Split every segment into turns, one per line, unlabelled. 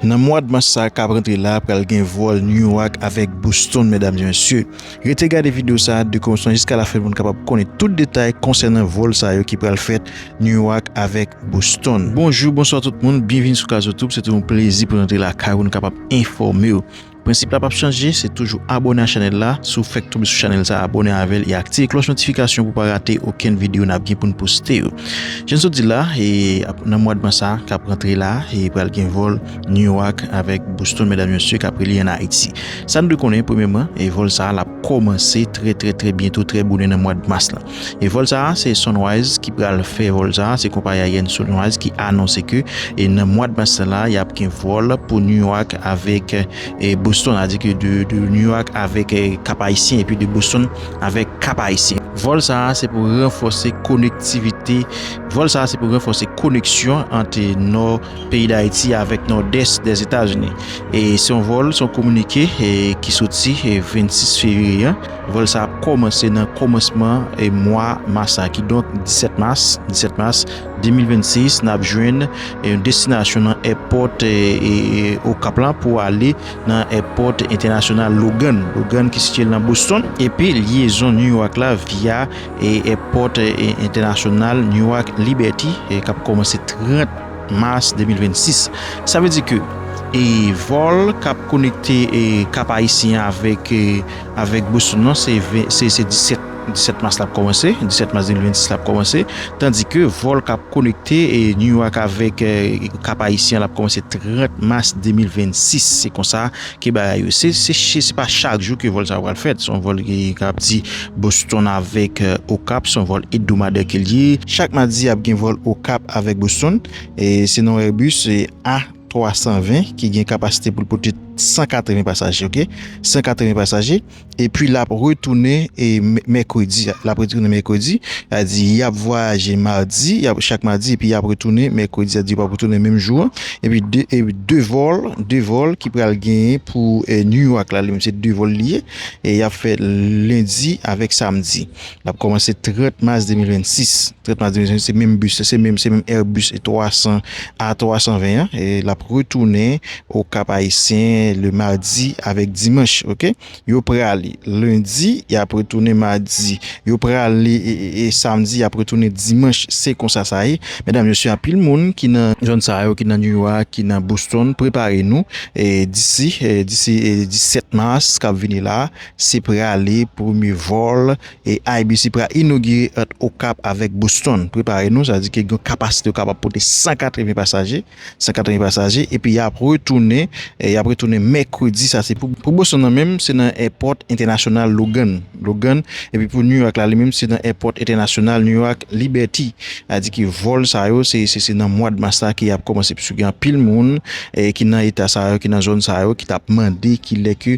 Nan mwad mas sa kap rantre la pral gen vòl Newark avèk Boston medam e mesye. Rete gade video sa de kòmansman jiska la fen poun kapab konnen tout detay konsènan vòl sa yo ki pral fèt Newark avèk Boston. Bonjou bonswa tout moun byenvini sou Kazotoub se toujou yon plezi poun rantre lakay ou nou kapab enfòmew Prensip la pap chanje, se toujou abone a chanel la, si w fèk tonbe sou chanel sa abone avèl e aktive klòch notifikasyon pou pa rate okenn video nap gen poun poste yo. Jan sot di la, e nan mwad mas sa kap rantre la, e pral gen vòl New York avèk Boston medam mesye kap rele an Ayiti. Sa nou dwe konnen premyèman, e vòl sa lap kòmanse trè trè trè byento trè bonè nan mwad mas la. E vòl sa a se Sunrise ki pral fè vòl sa a, se konpayi aryèn Sunrise ki anonse ke e nan mwad mas sa la yap gen vòl pou New York avèk e Boston a di ke de de New York avèk e Kap Ayisyen epi de Boston avèk Kap Ayisyen. Vòl sa a se pou ranfòse konektivite vòl sa a se pou ranfòse koneksyon ant e nò peyi Dayiti avèk nòdès Dèzetazini. E se yon vòl se yon kominike e ki soti e 26 fevriye an. Vòl sa ap kòmanse nan kòmansman mwa mas la, kidonk 17 mas, 17 mas 2026, n ap jwenn yon destinasyon nan èpòt Okap lan pou ale nan èpòt entènasyonal Logan, Logan ki sitye nan Boston, epi lyezon Newark la via èpòt entènasyonal Newark Liberty k ap kòmanse 30 mas 2026. Sa vle di ke vòl k ap konekte Kap Ayisyen avèk. Avèk Boston non se 17 mas lap kòmanse, 17 mas 2026 lap kòmanse, tandi ke vòl kap konekte New York avèk Kap Ayisyen lap kòmanse 30 mas 2026, se konsa ke bagay yo se, se pa chak jou ke vòl sa yo pral fèt, son vòl ki kap di Boston avèk Okap, son vòl ebdomadè ke li ye. Chak madi ap gen vòl Okap avèk Boston, se non Airbus A. 320 ki gen kapasite pou l pote 180 pasaje ok 180 pasaje epi l ap retounen e mèkredi l ap retounen mèkredi a di y ap vwayaje madi y ap chak madi epi y ap retounen mèkredi a di yo ap retounen menm jou an epi de epi de vòl de vòl ki pral genyen pou New York la li menm se de vòl li ye e y ap fè lendi avèk samdi L ap kòmanse 30 mas 2026. 30 mas 2026 se menm bis la, se menm se menm Airbus A 300 A 320 an e l ap retounen o Kap Ayisyen le madi avèk dimanch ok. Yo prale lendi y ap retounen madi yo prale e samdi y ap retounen dimanch se konsa sa ye medam mesye anpil moun ki nan zòn sa yo ki nan Newark ki nan Boston prepare nou e disi disi 17 mas k ap vini la Se prale premye vòl IBC pral inogire ant Okap avèk Boston. Prepare nou, sa di ke gen kapasite yo kapab pote 180 pasaje, 180 pasaje epi y ap retounen, y ap retounen mèkredi sa se pou pou Boston nan menm se nan èpòt entènasyonal Logan, Logan epi pou New York la li menm se nan èpòt entènasyonal New York Liberty. A di ke vòl sa yo se se se nan mwad mas la ke y ap kòmanse pwiske gen anpil moun ki nan eta sa yo, ki nan zòn sa yo ki t ap mande kilè ke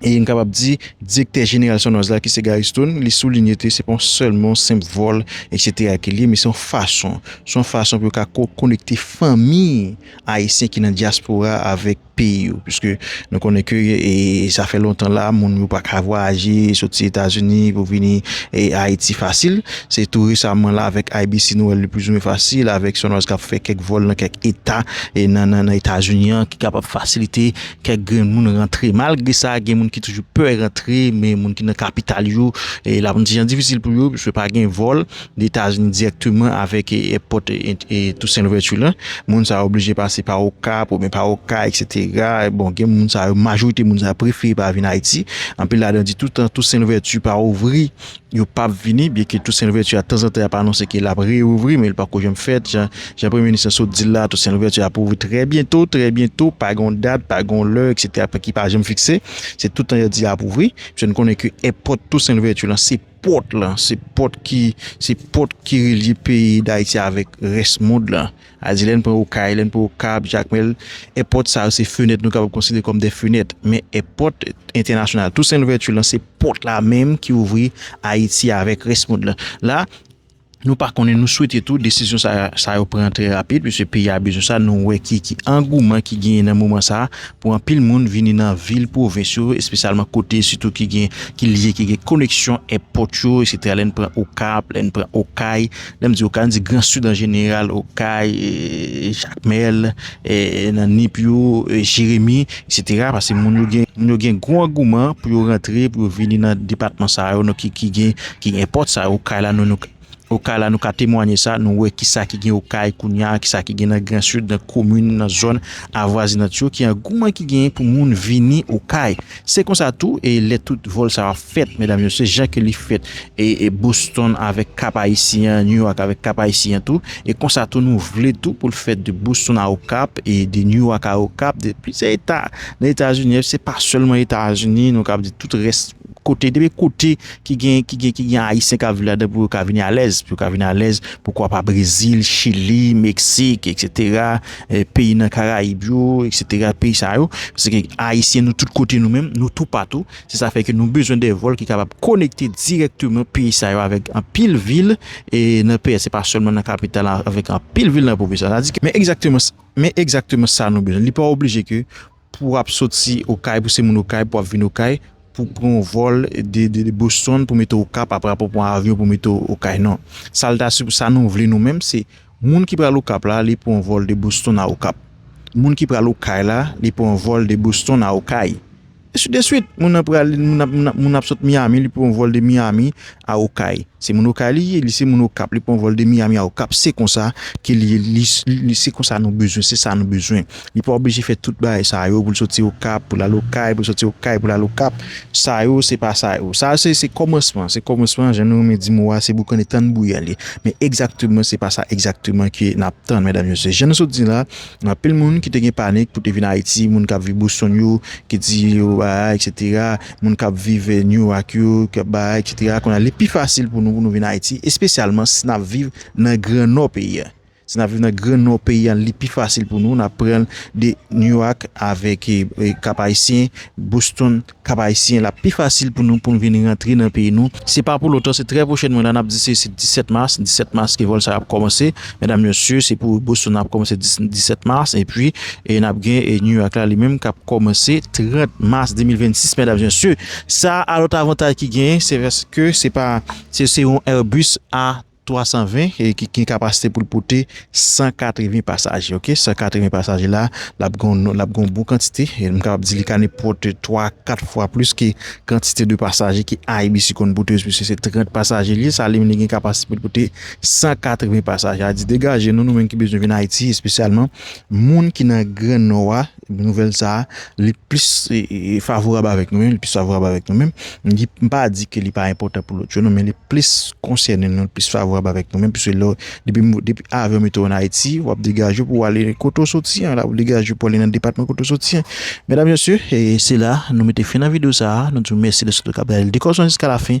E n kapab di direktè jeneral Sonraz la ki se Gary Stone, li soulinye te se pa yon sèlman senp vòl eksetera ke li ye men se yon fason, se yon fason pou yo ka konekte fanmi ayisyen ki nan dyaspora avèk peyi yo. Piske nou konnen ke sa fè lontan la moun yo pa ka vwayaje soti Etazini pou vini Ayiti fasil. Se tou resaman la avèk IBC nou wè li plizoumwen fasil avèk Sonraz kap fè kèk vòl nan kèk eta nan Etazini an ki kapab fasilite Kèk grenn moun rantre malgre sa gen moun ki toujou pè rantre men moun ki nan kapital yo la kondisyon difisil pou yo pwiske pa gen vòl Etazini dirèkteman avèk èpòt Tousen Louvèti la moun sa yo oblije pase pa Okap oubyen pa Okay eksetera bon gen moun sa yo majorite moun sa yo prefere pa vin Ayiti anpil ladan di toutan Tousen Louvèti pa ouvri yo pa ap vini, byenke Toussaint Louverture a tanzantan y ap anonse ke l ap reouvri men li pako janm fèt, jan jan Premye Minis lan sot di l la, Toussaint Louverture ap ouvri trè byento, trè byento, pa gen yon dat, pa gen yon lè eksetera ki pa janm fikse, se tout tan y ap di y ap ouvri, pske nou konnen ke èpòt Toussaint Louverture lan se pòt lan, se pòt ki se pòt ki relye peyi Dayiti avèk rès mond lan. A di lè n pran Okay, lè n pran Okap, Jakmèl, èpòt sa yo se fenèt nou kapab konsidere kòm de fenèt. Men èpòt entènasyonal Tousen Louvèti lan se pòt la menm ki ouvri Ayiti avèk rès mond lan. La, nou pa konnen, nou swete tou desizyon sa yo pran trè rapid piske peyi a bezwen sa. Nou wè ki angouman ki genyen nan moman sa a pou anpil moun vini nan vil pwovens yo, espesyalman kote sitou ki gen, ki lye, ki gen koneksyon èpòt yo, eksetera. Lè n pran Okap, lè n pran Okay. Lè m di Okay, m di Gran Sid an jeneral, Okay, Jakmèl, nan Nip yo, Jeremi, eksetera, pase moun yo gen, moun yo gen gwo angouman pou yo rantre, pou yo vini nan depatman sa yo, ki gen, ki gen pòt sa yo, Okay la, nou, Okay la, nou ka temwanye sa, nou wè ki sa ki gen Okay kounye a, ki sa ki gen nan Gran Sid, nan komin, nan zòn avwazinant yo, ki angouman ki genyen pou moun vini Okay. Se konsa tou e lè tout vòl sa yo ap fèt medam yo se jan ke li fèt e Boston avèk Kap Ayisyen an, New York avèk Kap Ayisyen an tou e konsa tou nou vle tou pou l fèt de Boston a Okap e de New York a Okap de plizyè eta nan Etazini se pa sèlman Etazini nou kab di tout rès kote depi kote ki gen ki gen ki gen Ayisyen kap viv ladan pou yo ka vini alèz pou yo ka vini alèz poukwa pa Brezil, Chili, Meksik eksetera. peyi nan karayib yo etc peyi sa yo paske ayisyen nou tout kote nou menm nou tou patou se sa fè ke nou bezwen de vòl ki kapab konekte direkteman peyi sa yo avèk anpil vil e nan peyi se pa sèlman nan kapital la avèk anpil vil nan pwovens sa di ke men egzakteman men egzakteman sa nou bezwen li pa oblije ke Pou w ap soti Okay, pou se moun Okay, pou w ap vin Okay, pou w pran yon vòl de Boston pou mete w Okap aprè pou w pran avyon pou mete w Okay non. Sa l ta, sa nou vle nou menm se moun ki pral Okap la li pran yon vòl de Boston a Okap. Moun ki pral Okay la li pran yon vòl de Boston a Okay. Ensi de swit. Moun nan pral, moun nan ap sot Miyami li pran yon vòl de Miyami. a okay se moun okay li ye li se moun okap li pran vòl de miami a okap se konsa ke li li se konsa nou bezwen se sa nou bezwen li pa oblije fè tout bagay sa yo pou l soti okap pou l al okay pou l soti okay pou l al okap sa yo se pa sa yo sa se se kòmansman se kòmansman jan nou renmen di mo a se boukane tann bouya li men egzakteman se pa sa egzakteman ke n ap tann medam mesye jan nou sot di la gen anpil moun ki te gen panik pou te vin ayiti moun k ap viv boston yo ki di yo a eksetera. moun k ap viv Newark yo, k ap bay, eksetera, kounye a li pi fasil pou nou pou nou vin Ayiti, espesyalman si n ap viv nan gran nò peyi a. Si n ap viv nan gran nò peyi a, li pi fasil pou nou, n ap pran de Newark avèk Kap-Ayisyen, Boston, Kap-Ayisyen, l ap pi fasil pou nou pou nou vin rantre nan peyi nou. Se pa pou lontan, se trè pwochènman la, n ap di se 17 mas, 17 mas ke vòl sa yo ap kòmanse. Medam mesye se pou Boston ap komanse 17 mars epi e nap gen e New York la li menm kap komanse 30 mars 2026 medam mesye sa a lot avantay ki gen se vès ke se pa se se yon Airbus a 320 e ki gen kapasite pou l pote 180 pasaje ok 180 pasaje la lap gen yon lap gen yon bon kantite e m kapab di li ka ne pote 3 4 fwa plis ke kantite de pasaje ki Airbus konn pote se 30 pasaje li sa li menm li gen kapasite pou l pote 180 pasaje a di degaje nou nou menm ki bezwen vin Ayiti espesyalman moun ki nan gran nò a nouvèl sa a li plis favorab avèk nou menm li plis favorab avèk nou menm m pa di ke li pa enpòtan pou lòt yo nou men li plis konsène nou li plis favorab avèk nou menm pise lò depi depi avyon mete w an Ayiti w ap degaje pou w ale kote w soti an la ou degaje pou w ale nan depatman kote w soti an medam mesye se la nou mete fen nan videyo sa a nou di w mèsi dèske nou te kab gade l de kòmanse jiska lafen.